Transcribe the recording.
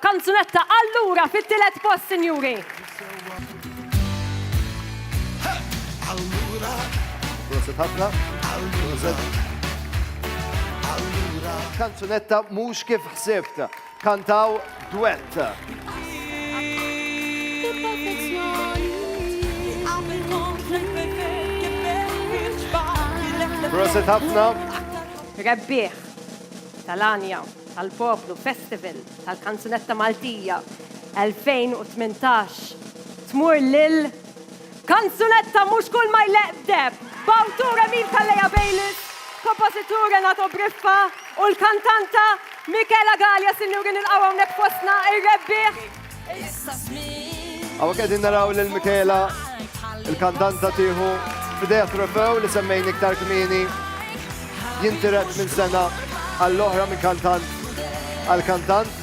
Kanzunetta allura fit-tielet post sinjuri. Prosit ħafna. Prosit. Kanzunetta Mhux Kif Ħsibt. Kantaw dwett. Prosit ħafna. Rebbieħ tal-għanja. tal-Poplu Festival tal-Kanzunetta Maltija 2018 tmur lil Kanzunetta Mhux Kull Ma Jleqq F'Deheb, b'awtur Emil Calleja Bayliss, kompożitur Renato Briffa u l-kantanta Michela Galea. Sinjuri nilqgħu hawnhekk fostna ir-rebbieħ Għawa kedin naraw lil Michaela, il-kandanta tiħu f'idea trofew li semmejn iktar kmini, jintiret minn sena għall-oħra minn kantant għal-kantant.